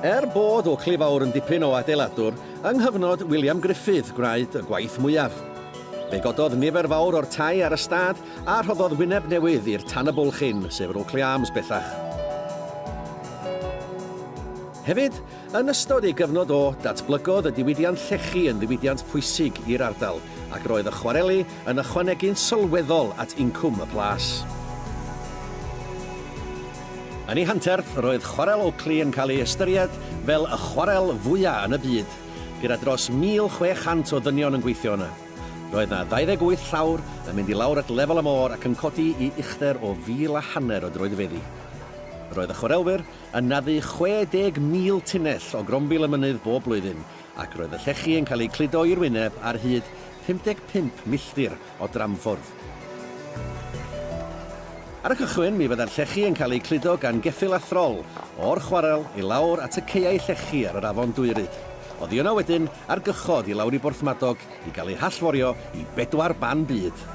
Er bod Oakley Fawr yn dipyn o adeiladwr, yng nghyfnod William Gruffydd gwnaed y gwaith mwyaf. Fe gododd nifer fawr o'r tai ar y stad a rhoddodd wyneb newydd i'r tan y bwlch hyn, sef yr Oakley Arms bellach. Hefyd, Yn ystod ei gyfnod o, datblygodd y diwydiant llechi yn ddiwydiant pwysig i'r ardal, ac roedd y chwareli yn ychwanegu'n sylweddol at incwm y plas. Yn ei hanterth, roedd Chwarel Oakley yn cael ei ystyried fel y chwarel fwyaf yn y byd, gyda dros 1,600 o ddynion yn gweithio yna. Roedd yna 28 llawr yn mynd i lawr at lefel y môr ac yn codi i uchder o fil a hanner o droedfeddi. Roedd y chwarelwyr yn naddu 60,000 tunnell o grombil y mynydd bob blwyddyn, ac roedd y llechi yn cael eu cludo i'r wyneb ar hyd 55 milltir o dramffwrdd. Ar y cychwyn, mi fyddai'r llechi yn cael eu cludo gan geffyl a throl, o'r chwarel i lawr at y caeau llechi ar yr afon Dwyryd. Oddi yno wedyn, ar gychod i lawr i Borthmadog, i gael ei hallforio i bedwar ban byd.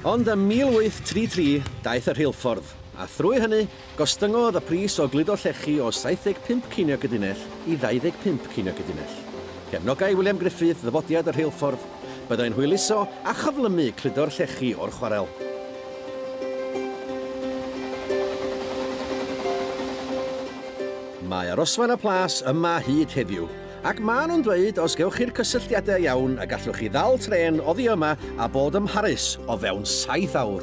Ond ym 1833 daeth y rheilffordd, a thrwy hynny, Gostyngodd y pris o gludo llechi o 75 ceiniog y dunnell i 25 ceiniog y dunnell. Cefnogai William Griffith ddyfodiad y rheilffordd. Byddai'n hwyluso a chyflymu cludo'r llechi o'r chwarel. Mae Arosfaen y Plas yma hyd heddiw, Ac maen nhw'n dweud os gewch chi'r cysylltiadau iawn y gallwch chi ddal trên oddi yma a bod ym Mharis o fewn saith awr.